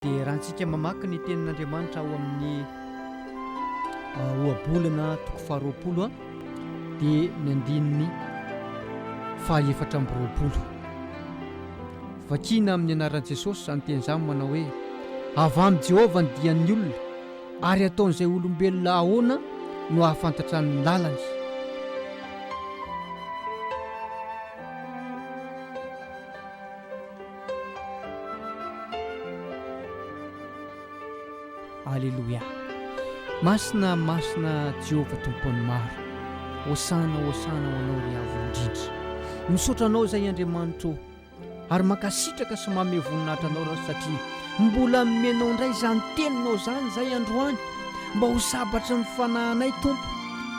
Dia raha antsika mamaky ny tenin'Andriamanitra ao amin'ny ohabolana toko faharoapolo a dia ny andininy fahaefatra amby roapolo vakina amin'ny anaran'i Jesosy izany teny izany manao hoe avy amin'i Jehovah ny dian'ny olona ary ataon'izay olombelona ahoana no hahafantatra ny lalany Aleloia! Masina, masina Jehovah Tompon'ny maro. Hosana, hosana ho Anao ry Avo indrindra. Misaotra Anao izay Andriamanitra ô. Ary mankasitraka sy manome voninahitra Anao Raho satria mbola nomenao indray izany Teninao izany izay androany mba ho sabatry ny fanahinay Tompo.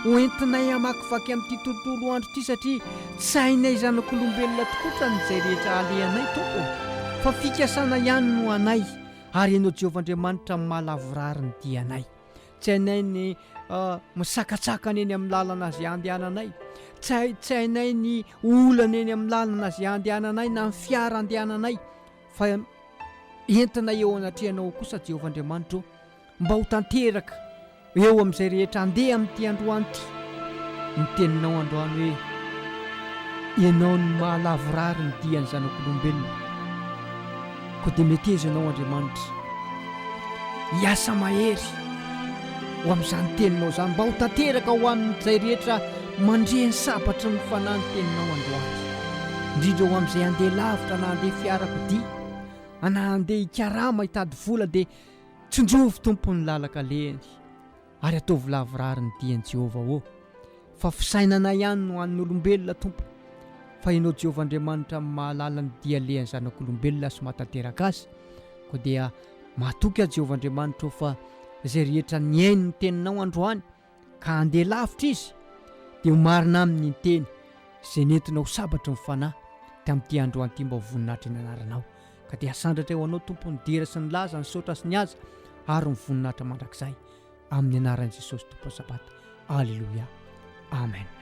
Hoentinay hamakivaky amin'ity tontolo andro ity satria Tsy hainay zanak'olombelona tokoa trany izay rehetra alehanay Tompo ô, fa fikasana ihany no anay, ary Ianao Jehovah Andriamanitra no maha lavorary ny dianay. Tsy hainay ny misakatsakana eny amin'ny lalana izay andehananay, tsy tsy hainay ny olana eny amin'ny lalana izay andehananay na ny fiara andehananay, fa entinay eo anatrehanao ao kosa Jehovah Andriamanitra ô, Mba ho tanteraka eo amin'izay rehetra andeha amin'ity androany ity ny teninao androany hoe, Ianao no maha lavorary ny dian'ny zanak'olombelona. Koa dia meteza Ianao Andriamanitra. Hiasa mahery ho amin'izany teninao izany mba ho tanteraka ho amin'izay rehetra mandre ny sabatry ny Fanahy ny teninao androany. Indrindra ho amin'izay andeha lavitra na andeha fiarakodia na andeha hikarama hitady vola dia Tsinjovy Tompo ny lalaka alehany ary ataovy lavorary ny diany Jehovah ô! Fa fisainana ihany no an'ny olombelona Tompo fa Ianao Jehovah Andriamanitra mahalala ny dia alehan'ny zanak'olombelona sy mahatanteraka azy koa dia matoky aho Jehovah Andriamanitra ô fa izay rehetra nihaino ny teninao androany ka handeha lavitra izy, dia ho marina aminy ny teny izay nentina ho sabatry ny fanahy tamin'ity androany ity mba ho voninahitry ny anaranao, ka dia hasandratra ho anao Tompo ny dera sy ny laza, ny saotra sy ny haja ary ny voninahitra mandrakizay, amin'ny anaran'i Jesosy Tompon'ny Sabata, Aleloia, Amen.